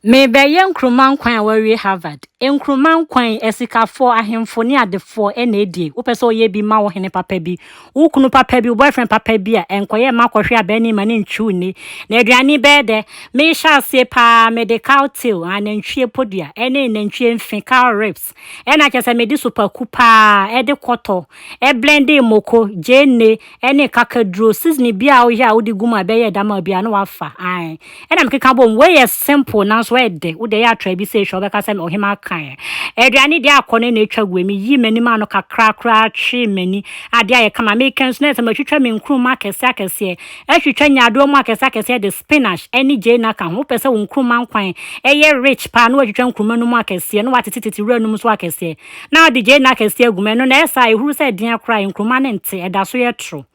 Merebɛyɛ Nkrumah Nkwan a wawie Harvard. Nkrumah Nkwan, asikafoɔ, ahemfo ne adefoɔ na ɛdie. Wopɛ sɛ woyɛ bi, ma wo hene papa bi, wo kunu papa bi, wo boyfriend papa bi a, ɛnkɔyɛ mma akɔhwe abaa anim ma no ntwiw nne. Na aduane bɛyɛ dɛ. Mehyɛ aseɛ paa, mede cow tail, anantwie podua, ne nantwie mfe, cow ribs, ɛna kyerɛ sɛ mede sopaku paa ɛde kɔtɔ ɛblende moko gyeene ɛne kakaduro seasoning bi a woyɛ a wode gu mu a ɛbɛyɛ dam a bia na wafa ae ɛna mekeka bom wei yɛ simple nanso ɛde wode yɛ atra bi sɛ hwɛ wobɛka sɛ ɔhema kan aduane deɛ akɔ ne na atwa gu mi yi m'anim ano kakra koraa twe m'ani adeɛ ayɛ kama meka nso na ɛsɛ matwitwa me nkuruma akɛseɛ akɛseɛ Ɛtwitwa nyaadowa mu akɛse akɛse ɛde spinach ɛne gyeene aka ho. Wopɛ sɛ wo nkruma nkwan ɛyɛ rich paa na watwitwa nkruma no mu akɛseɛ na watete tete wura no mu nso akɛseɛ na wode gyeene akɛseɛ agu mu. Ɛno na ɛyɛ saa a ɛhuru sɛ ɛdeɛn koraa a nkruma no nte, ɛda so yɛ toro.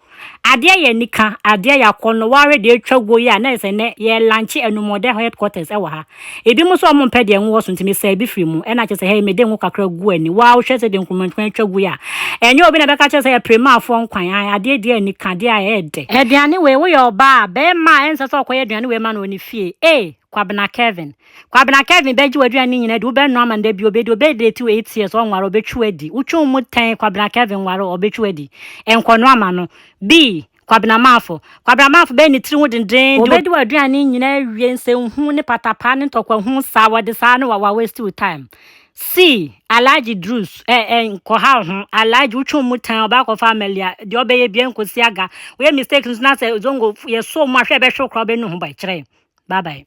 Adeɛ yɛ anika, adeɛ yɛ akɔnnɔ. Woahwɛ deɛ atwa guo yi a na ɛsɛ nnɛ yɛ lunche anumɔdɛ headquarters ɛwɔ ha. Ebinom nso a wɔmpɛ deɛ ngo wɔ so nti mesaa bi firi mu, ɛna kyerɛ sɛ hɛi mede ngo kakra gu ani, woaa wohwɛ sɛdeɛ nkurumankuruman atwa gui a, ɛnyɛ obi na ɛbɛka akyerɛ sɛ ɛpere Maafoɔ nkwan, ae, adeɛ di ani ka, adeɛ a ɛyɛ dɛ. Aduane wei, woyɛ ɔbaa a, barima a ɛnsɛ sɛ ɔkɔyɛ aduane wei ma no wɔ ne fie, ee, Kwabena Kevin. Kwabena Kevin bɛgye w'aduane no nyinaa adi, wobɛnoa ama no da bi, obedi, obɛdate wo eight years, ɔnware, ɔbɛtwi wo adi. Wotwe wo mu tɛn, Kwabena Kevin nware, ɔbɛtwi wo adi. Nkɔnoa ma no. Bii, Kwabena Marfo. Kwabena Marfo bɛyɛ ne tiri ho dendenden. Wɔbɛdi w'aduane nyinaa awie, nsɛnhunu ne patapaa ne ntɔkwa hu saa, wɔde saa ne wa waste wo time. See, Alhaji Drus, eh eh, nkɔhaw ho, Alhaji wotwe wo mu tan, ɔbaa kɔfa Amalia, deɛ ɔbɛyɛ biara nkɔsi aga, woyɛ mistake nso na sɛ Zongo yɛsɔɔ mu a hwɛ ɛbɛhwe wo koraa wobɛnu ho bɔ, ɛkyerɛ, bye bye.